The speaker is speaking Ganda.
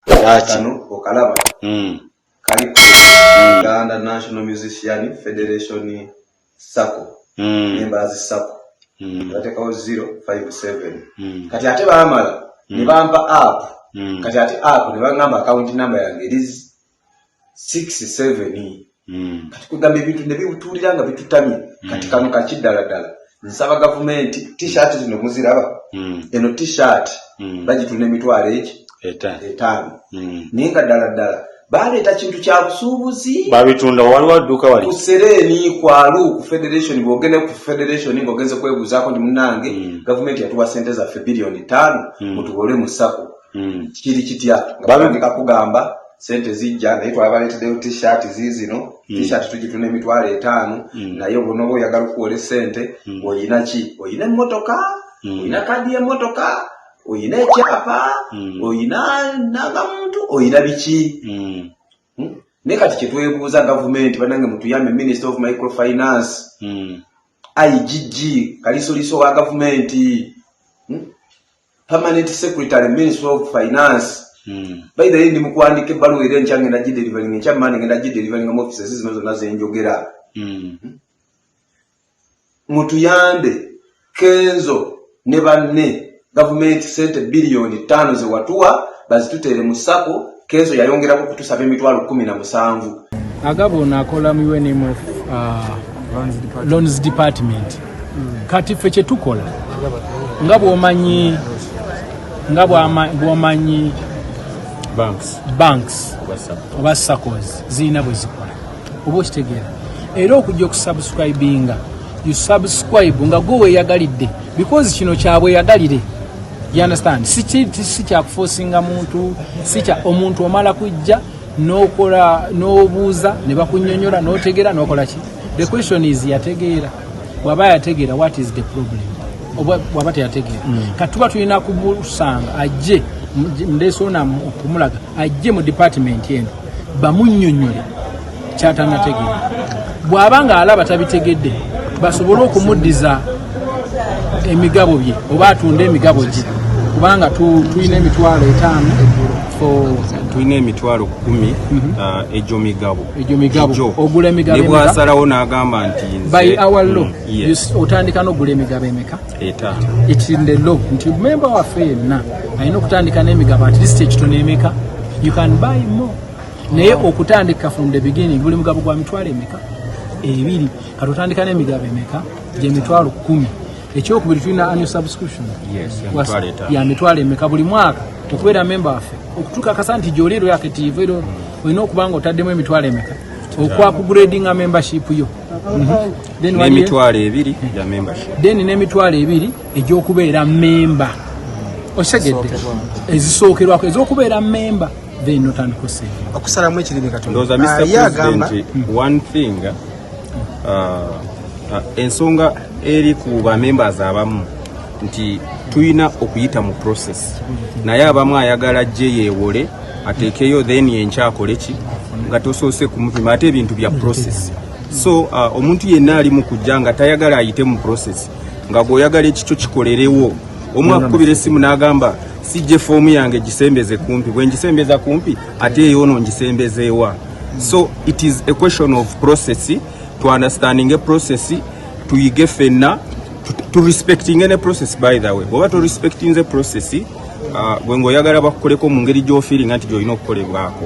kano okalaba hmm. kali ku hmm. uganda national musician federation sacco hmm. members sacco batekawo 057 kati ate bamala nebampa app kati ate app nebangamba akawunti namba yange erizi six seven hmm. kati kwegamba ebintu nebibutuulira nga bitutamye hmm. kati kano kakiddala ddala nsaba gavumenti t-shirt zino muziraba hmm. eno t-shirt bagitunda emitwalo eki etaano naye nga ddala ddala baleeta kintu kya busuubuzi babitunda waliwo adduuka wali kusereeni kwalu ku federation bwogende ku federation ngaogenze kwebuuzaako nti munange gavumenti yatuwa sente zaffe biliyoni ttaano mutubole mu sako mm. kiri kitya nga batandika kugamba sente zijja naye twabaletedeyo t-shirt ziizino mm. t-shirt tugituna emitwalo etaano mm. naye obunoba oyagala okuwola esente mm. oyina ki oyina emmotoka mm. oyina kadi y'emmotoka oyina ekyapa mm. oyina nagamuntu oyina biki mm. hmm? naye kati kyetwebuuza gavumenti banange mutuyambe minister of microfinance mm. igg kalisoliso wa gavumenti permanent secretary ministry of finance hmm. by the way ndi mukuandika ebbaluwa era enkya ngenda gidelivering enkya mani ngenda gidelivering mu offices zino zonna zenjogera hmm. mutuyambe kenzo ne banne gavumenti sente biliyoni ttaano zewatuwa bazituteere mu sako Kenzo yayongerako kutusaba emitwalo kumi na musanvu. Agabo ono akola mu UNMF uh, loans department. Hmm. Kati ffe kye tukola nga bw'omanyi nga bw'omanyi banks oba saccos zirina bwe zikola oba okitegeera era okujja okusubscribinga you subscribe nga gwe weyagalidde because kino kyabweyagalire you understand si kyakufosinga muntu si kya omuntu omala kujja nokola nobuuza ne bakunyonyola notegeera nokola ki the question is yategeera bwaba yategeera what is the problem bwaba teyategeera mm. katuba tulina kumusanga ajje ndesoona okumulaga ajje mu department eno bamunnyonnyole kyatanategeera bw'aba ng'alaba tabitegedde basobole okumuddiza emigabo bye oba atunde emigabo gye kubanga tulina emitwalo etaano tulina emitwalo kumi mhm. uh, egyo migabo egyo migabo ogula emigabo ne bwasalawo n'agamba nti by our law mm, otandika n'ogula emigabo emeka Eta. It's in the law. Nti member wa fair na. Aino kutandika nemi gaba at least ekitu nemeka. You can buy more. Naye okutandika from the beginning buli mugabo kwa mitwale emeka. Ebili. Katutandika nemi gaba emeka. Je mitwalo kumi. Echo kubili tuina annual subscription. Yes. Ya mitwale eta. Ya mitwale emeka. Buli mwaka. Tukweda member wa fair. Okutuka kasanti jolero ya kitivu. Ino mm. kubanga utademu emitwale emeka. Okwa kugrading a membership yo. Mm -hmm. n'emitwalo ebiri gya membership then n'emitwalo ebiri egy'okubeera memba osegedde ezisookerwako ez'okubeera memba then notandika osente okusalamu ekirimi katondoza mr ah, president hmm. one thing uh, uh, ensonga eri ku ba members abamu nti tulina okuyita mu process naye abamu ayagala ajje yeewole ateekeyo then enkyakoleki nga tosoose kumupima ate ebintu bya process so uh, omuntu yenna ali mu kujja nga tayagala ayite mu process nga gweoyagala ekikyo kikolerewo omu akukubira essimu n'agamba sijje foomu yange gisembeze kumpi bwe ngisembeza kumpi ate eyoono ngisembezeewa so it is a question of process to understanding a process tuyige fenna to respecting any process by the way bwoba to respecting the process uh, gwe ngaoyagala bakukoleko mu ngeri gy'ofiiringa nti gy'olina okukolebwako